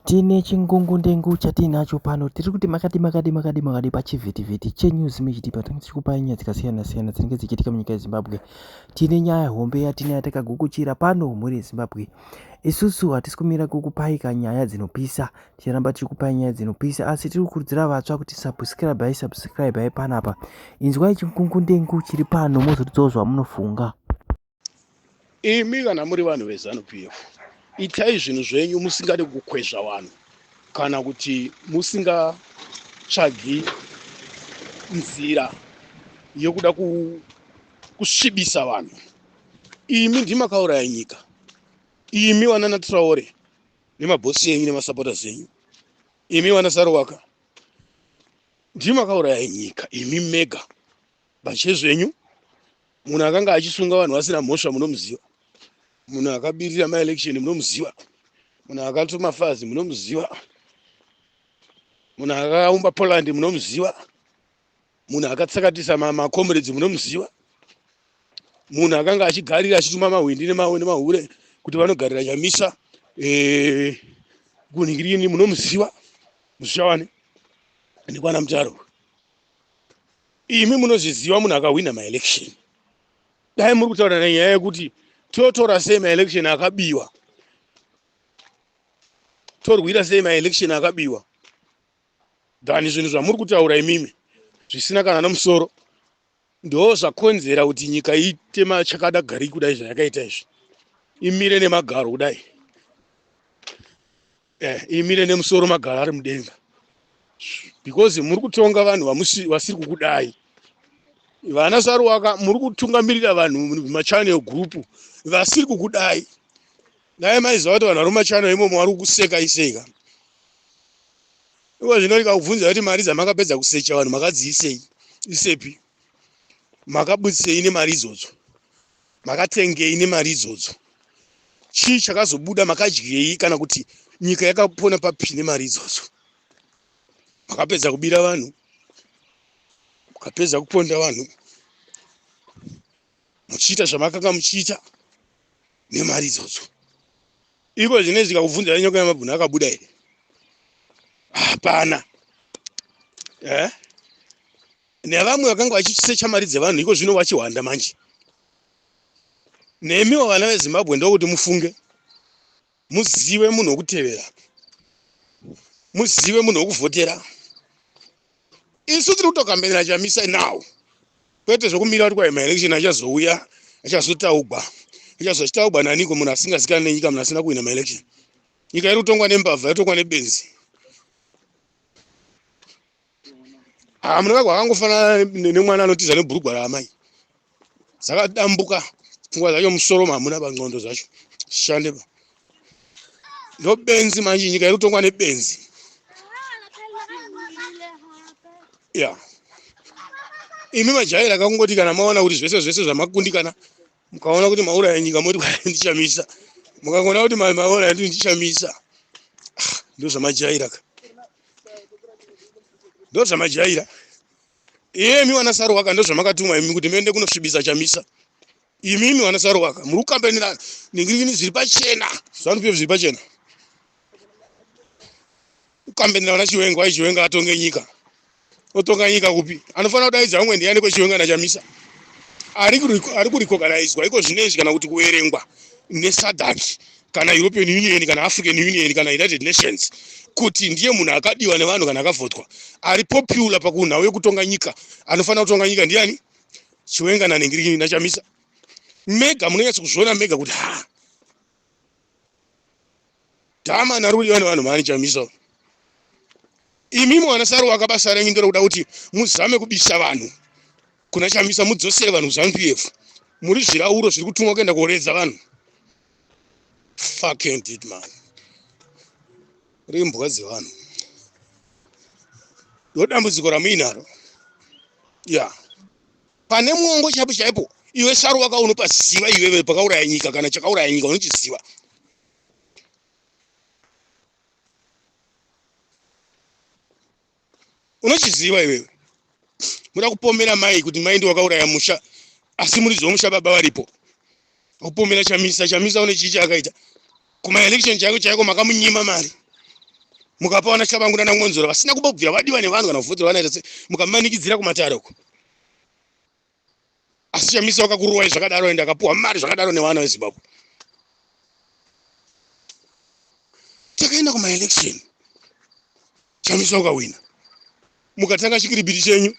Tine chingungundengu chatiinacho pano tiri kuti makadi makadi makadi makadi pachivhitivhiti chenews mechitipa tinenge tichikupai nyaya dzakasiyana siyana dzinenge dzichiitika munyika yezimbabwe tine nyaya hombe yatine yatakagukuchira pano mhuri yezimbabwe isusu hatisi kumira kukupai ka nyaya dzinopisa tichiramba tiri kupai nyaya dzinopisa asi tiri kukurudzira vatsva kuti subscribei subscribei panapa inzwai chingungundengu chiri pano mozotidzawo zvamunofunga imi kana muri vanhu vezanu p f itai zvinhu zvenyu musingade kukwezva vanhu kana kuti musingatsvagi nzira yokuda kusvibisa vanhu imi ndimakauraya nyika imi vanana traore nemabhosi enyu nemasapota zenyu imi vana sarowaka ndimakauraya nyika imi mega Bachezvenyu munhu akanga achisunga vanhu vasina mhosva munomuziva, munhu akabirira maelection munomuziva, munhu akatuma fazi munomuziva, munhu akaumba Poland munomuziva, munhu akatsakatisa macomrades munomuziva, munhu akanga achigarira achituma mahwindi nemahure kuti vanogarira nyamisa eh, kunhingirini munomuziva mushavane nekwana mutaro imi munozviziva munhu akahwina maelection dai muri kutaura nanyaya yekuti totora sei maelection akabiwa torwira sei maelection akabiwa than zvinhu zvamuri kutaura imimi zvisina kana nomusoro ndo zvakonzera kuti nyika iite machakada gari kudai zvayakaita izvi imire nemagaro kudai eh, imire nemusoro magara ari mudenga because muri kutonga vanhu vasiri kukudai vana saruwaka muri kutungamirira vanhu mumachannel group vasiri kukudai dai maiziva kuti vanhu vari mumachannel imomo vari kukuseka iseka iko zvino ikakubvunza kuti mari dzamakapedza kusecha vanhu makadziisei isepi makabudisei nemari idzodzo Makatengei nemari idzodzo? Chii chakazobuda? Makadyei? Kana kuti nyika yakapona papi nemari idzodzo? Makapedza kubira vanhu, mukapedza kuponda vanhu, muchiita zvamakanga muchiita nemari idzodzo. Iko zvine zvikakubvunza nyoka yamabhuna akabuda here? Hapana. Eh? nevamwe vakanga vachisecha mari dzevanhu iko zvino vachihwanda manje nemiwo vana vezimbabwe ndokuti mufunge muzive munhu wokutevera muzive munhu wokuvhotera isu tiri kutokambenera chamisa now kwete zvokumira kuti kwaima election achazouya achazotaugwa achazo achitaugwa naniko munhu asingazikani nenyika munhu asina kuhwina maelection nyika iri kutongwa nembavha yotongwa nebenzi Ah, munoda kwakangofanana nemwana anotiza nebhurugwa raamai dzakadambuka pfungwa dzacho musoro mamuna panxondo dzacho zishande pa ndobenzi manje nyika iri kutongwa nebenzi ya imi majaira kakungoti kana maona kuti zvese zvese zvamakundikana mukaona kuti mauraya nyika moti ndichamisa mukangoona kuti mauraya ndi ndichamisa ah, ndozvamajaira ka ndozvamajaira iyemi wana saruwaka ndozvamakatumwa imi kuti muende kunosvibisa chamisa imimi wana saruwaka muri kukambanira ningirikini zviri pachena zvanupiyo zviri pachena Ukambenera vana Chiwenga, why Chiwenga atonge nyika? Otonga nyika kupi? Anofana kudaidza umwe ndiani ko Chiwenga na Chamisa? Ari kuri ari kuri koganaidzwa iko zvinezvi kana kuti kuerengwa ne SADC kana European Union kana African Union kana United Nations kuti ndiye munhu akadiwa nevanhu kana akavhotwa ari popular pakunhau yekutonga nyika anofana kutonga nyika ndiani? Chiwenga na Nengiriki na Chamisa. Mega munonyatsa kuzviona mega kuti ha Tama narudi vane vanhu mani chamisa uyu. Imi mwana saru wakabasa renyu ndiro kuda kuti muzame kubisa vanhu kuna chamisa mudzosere vanhu zanu PF. Muri zvirauro zviri kutumwa kuenda kuoredza vanhu. Fucking did man. Rimbwa dzevanhu. Ndodambudziko ramuinaro. Yeah. pane mwongo chaipo chaipo iwe saru waka unopaziva iwewe pakauraya nyika kana chakauraya nyika unochiziva unochiziva iwewe muda kupomera mai kuti mai ndiwakauraya musha asi muridzi wemusha baba varipo Opomera Chamisa, Chamisa une chii chaakaita? Kuma election chaiko chaiko makamunyima mari. Mukapa wana Chabangu nana Ngonzora vasina kumbobvira vadiwa nevanhu kana kuvhoterwa vanoita sei? Mukamanikidzira kumatare uko. Asi Chamisa wakakurowa zvakadaro ende akapuwa mari zvakadaro nevana veZimbabwe. Takaenda kuma election. Chamisa ukawina. Mukatanga chikiribiti chenyu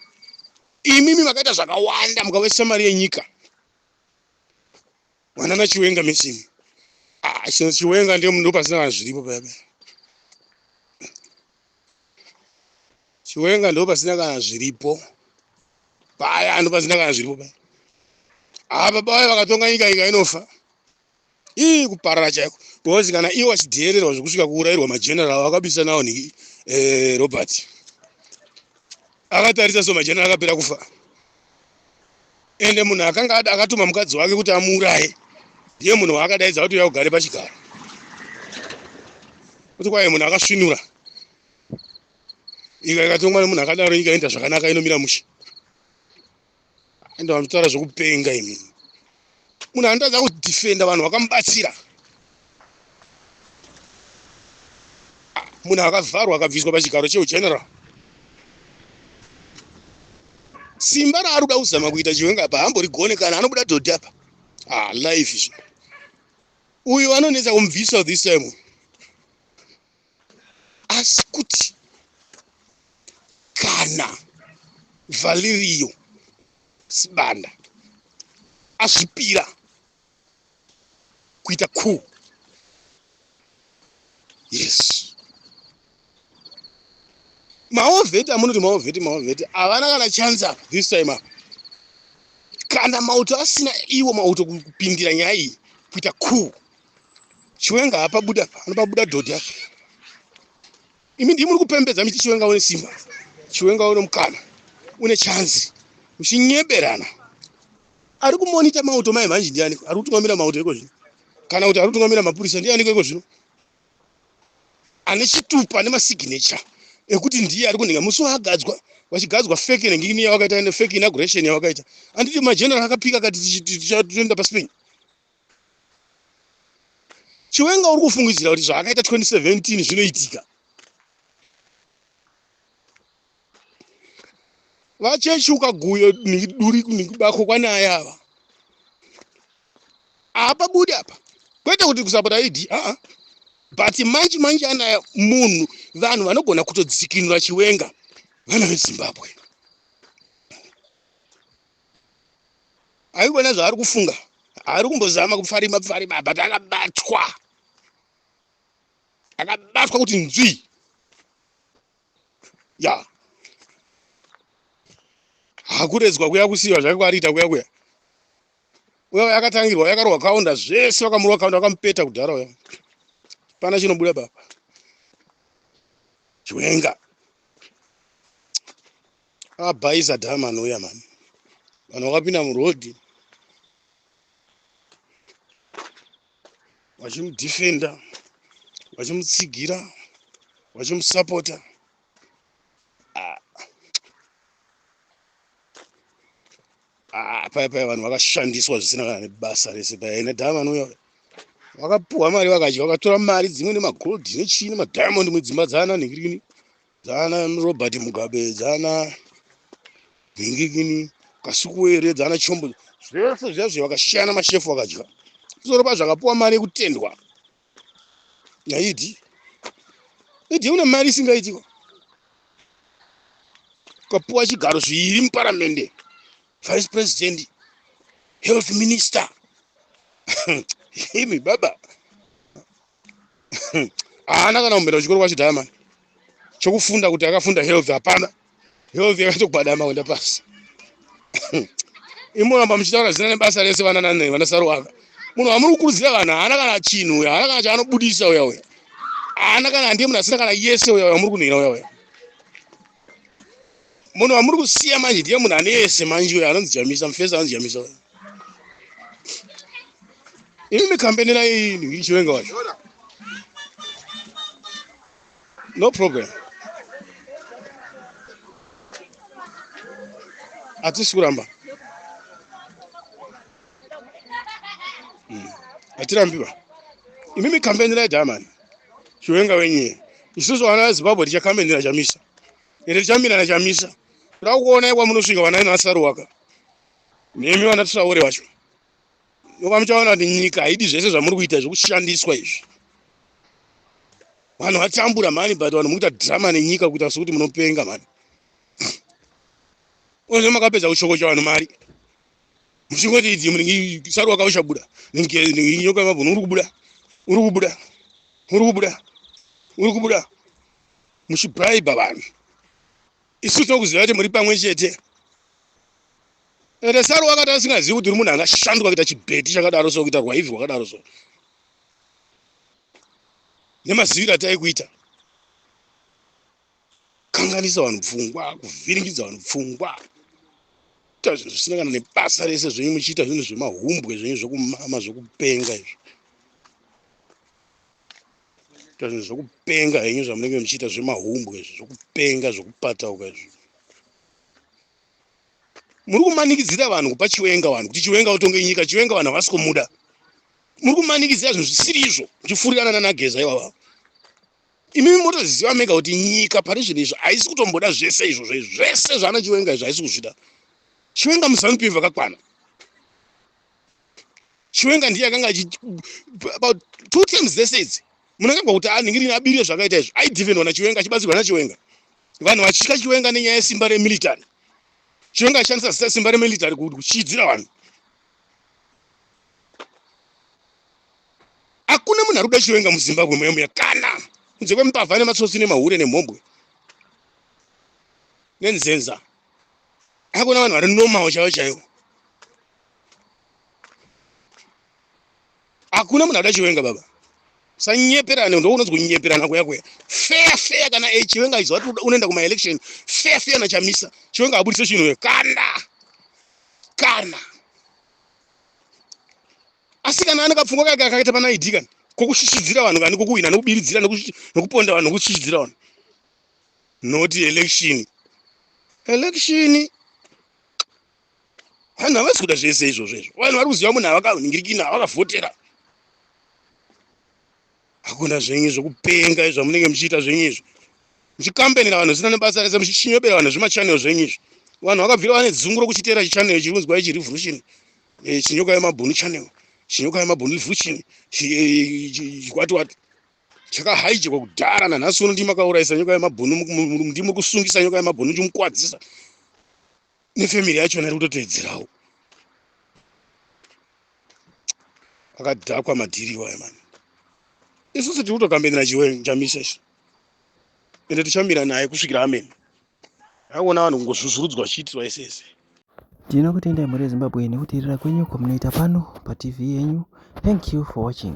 imimi makaita zvakawanda mukawesa mari yenyika mwana na chiwenga mechini ah chinhu chiwenga ndiye munhu pasina vanhu zviripo paya paya chiwenga ndo pasina kana zviripo paya ndo pasina kana zviripo paya apa ah, baba vaye vakatonga nyika ika inofa ii kuparara chaiko because kana iwo achidheererwa zvekusvika kuurairwa mageneral akabisa nawo ni eh, robert akatarisa so mageneral akapera kufa ende munhu akanga akatuma mukadzi wake kuti amuuraye ndiye munhu waakadaidza kuti uya ugare pachigaro kuti kwaye munhu akasvinura nyika ikatongwa nemunhu akadaro nyika inoita zvakanaka inomira mushe ende vanotaura zvekupenga imi munhu anotadza kudefenda vanhu vakamubatsira munhu akavharwa akabviswa pachigaro cheugeneral simba raari kuda kuzama kuita chiwenga apa hamborigone kana anobuda dhodhi apa ah, life izvo uyu anonetsa kumubvisa this time asi kuti kana valerio sibanda azvipira kuita ku yes maovheti amunoti maovheti maovheti havana kana chansa this time apa kana mauto asina iwo mauto kupindira nyaya iyi kuita cool Chiwenga hapa buda pa anopa buda dhodhi yake. Imi ndimi muri kupembedza miti chiwenga une simba. Chiwenga une mukana. Une chance. Mushinyeberana. Ari kumonita mauto mai vanji ndiani? Ari kutungamira mauto iko zvino. Kana kuti ari kutungamira mapurisa ndiani iko zvino? Ane chitupa ne masignature ekuti ndiye ari kunhinga musi waagadzwa vachigadzwa fake nengini yavakaita ne fake inauguration yavakaita. Anditi mageneral akapika akati tichatoenda paSpain. chiwenga uri kufungidzira kuti zvaakaita 2017 zvinoitika vachechi ukaguyo duri bako kwanaye ava apa budi apa kwete kuti kusapota idi aa but manje manje anaya munhu vanhu vanogona kutodzikinura chiwenga vana vezimbabwe aigona zvaari kufunga ari kumbozama kupfarima pfarima but akabatwa akabatwa kuti nzwi ya hakuredzwa kuya kusiiwa zvake kwaariita kuya kuya uya uya akatangirwa uya akarohwa kaunda zvese vakamurwa kaunda vakamupeta kudhara uya pana chinobuda papa chiwenga abhaisa dhama anouya mani vanhu vakapinda murodhi vachimudhifenda vachimutsigira vachimusapota ah. ah, paya paya vanhu vakashandiswa zvisina kana nebasa rese paya ine dhama vanouya vakapuhwa mari vakadya vakatora mari dzimwe nemagold nechii nemadiamond mudzimba dzaana nhingirini dzaana robert mugabe dzaana gingigini kasukuwere dzaana chombo zvese zvazvo vakashiyana mashefu vakadya kusoro pazvo akapuwa mari yekutendwa naidi idi une mari isingaitiko ukapuwa chigaro zviiri muparamende vice president health minister imi baba haana kana kumbera kuchikoro kwacho dhaya mani chokufunda kuti akafunda health hapana health yakatogwadama kuenda pasi imoramba muchitaura zina nebasa rese vana nane vana saruwaka munhu wamuri kukurudzira vanhu haana kana chinhu uya haana kana chaanobudisa uya uya haana kana handiye munhu asina kana yese uya uya muri kunhira uya uya munhu wamuri kusiya manje ndiye munhu ane yese manje uyo anonzi jamisa mufesi anonzi jamisa imi mikambeni nayo ini ichiwenga wacho no problem hatisi kuramba hmm. hatirambiwa imimi kambeni ra jamani chiwenga wenyee isusu vana vezimbabwe tichakambenira chamisa ende tichamirana chamisa toda kuona ikwa munosvika vanaina vasaruwaka nemi vana tisaure vacho nokuva muchaona kuti nyika haidi zvese zvamuri kuita zvekushandiswa izvi vanhu vatambura mani but vanhu mukuita drama nenyika kuita sekuti munopenga mani oze makapedza kuchokocha vanhu mari muchingoti idzi munenge saru wakaushabuda nyoka yemabhunu uri kubuda uri kubuda uri kubuda uri kubuda muchibraiba vanhu isu tinokuziva kuti muri pamwe chete ende saru wakati asingazivi kuti uri munhu angashandwa kuita chibheti chakadaro so kuita rwaivhi rwakadaro so nemaziviro ataikuita kukanganisa vanhu pfungwa kuvhiringidza vanhu pfungwa kuita zvinhu zvisina kana nebasa rese zvenyu muchiita zvinhu zvemahumbwe zvenyu zvekumama zvekupenga izvo kuita zvinhu zvekupenga henyu zvamunenge muchiita zvemahumbwe izvo zvekupenga zvekupatauka izvo muri kumanikidzira vanhu kupa chiwenga vanhu kuti chiwenga utonge nyika chiwenga vanhu havasi kumuda muri kumanikidzira zvinhu zvisiri izvo muchifurirana nanageza ivava imi motozviziva mega kuti nyika pane zvinhu izvo haisi kutomboda zvese izvozvo izvo zvese zvaana chiwenga izvo haisi kuzvida chiwenga muzanup iv vakakwana chiwenga ndiye akanga achi about two terms dzese idzi munhu akagwa kuti anhingirini abirire zvakaita izvo aidhivenwa nachiwenga achibatsirwa nachiwenga vanhu vachitya chiwenga nenyaya yesimba remilitary chiwenga achishandisa zita simba remilitary kuchidzira vanhu hakuna munhu ari kuda chiwenga muzimbabwe muya muya kana kunze kwemupavha nematsotsi nemahure nemhombwe nenzenza akuna vanhu vari normal chaivo chaivo hakuna munhu akuda chiwenga baba sanyeperane ndo unonzi kunyeperana kuya kuya fair fair kana e chiwenga izo wati unoenda kumaelection fair fair nachamisa chiwenga abudise chinhu kana kana asi kana ane kapfungwa kake akaita pana id kani kokushishidzira vanhu kani kokuhwina nokubiridzira nokuponda vanhu nokushishidzira vanhu not election election vanhu havasi kuda zvese izvozvo izvo vanhu vari kuziva munhu avakauningirikina avakavhotera hakuna zvenyu zvekupenga izvi zvamunenge muchiita zvenyu izvi muchikambenera vanhu zvisina nebasa rese muchichinyobera vanhu zvimachanel zvenyu izvi vanhu vakabvira vane dzungu rokuchiteera chichanel chiri kunzwa ichi revolution eh, chinyoka yemabhunu chanel chinyoka yemabhunu revolution chikwatiwati eh, chakahaijekwa kudhara nanhasi uno ndimakaurayisa nyoka yemabhunu ndimuri kusungisa nyoka yemabhunu chimukwadzisa nefamily yachona iri kutoteedzerawo akadhakwa madhiri iwayo mani isusu tiri kutokambenera chiwe chamisa isu ende tichamira naye kusvikira amene akuona vanhu kungozvuzvurudzwa chiitirwa ese ese tinokutendai mhuri yezimbabwe nekuteerera kwenyu kwamunoita pano patv yenyu thank you for watching